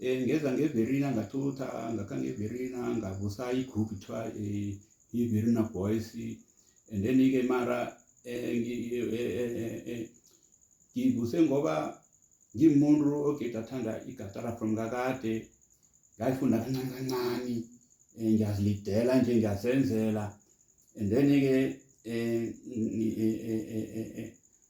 Eh ngeza ngeVerina ngathutha ngakha ngeVerina ngavusa igroup kuthiwa eh, iVerina Boys and then ke mara eh, eh, ngivuse ngoba ngimuntu ogeda athanda igatara from kakade ngayifunda kancane kancane um ngiyazilidela nje ngiyazenzela and then-ke um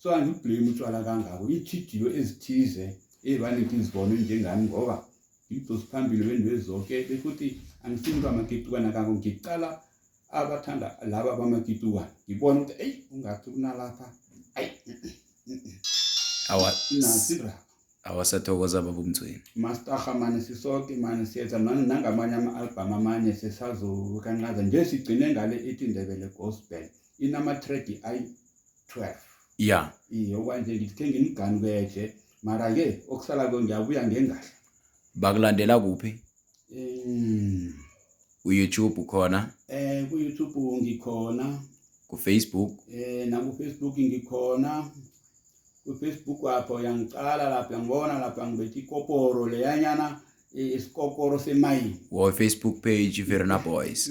so angiblame utshwala kangako ithidiyo ezithize ezibaningi izibone njengami ngoba ngidose phambili bento ezoke bekuthi angisini uba makitukana kako ngiqala abathanda laba bamakitukana ngibona ukuthi eyi ungathi kunalapha ayi nasira awasathokoza baba umthweni mastaha mane sisoke mane siyenza nangamanye ama-albhamu amanye sesazokancaza nje sigcine ngale ithi ndebele gospel inamatredi ayi 12 ya iye okwanje ngithenge imiganu keje mara ke okusala ko ngiyabuya ngengahla bakulandela kuphi um uyoutube khona eh kuyoutube ngikhona kufacebook eh nakufacebook ngikhona kufacebook apho yangiqala lapho yangibona lapho yangibethi ikoporo leyanyana isikokoro semayini or facebook page verna boys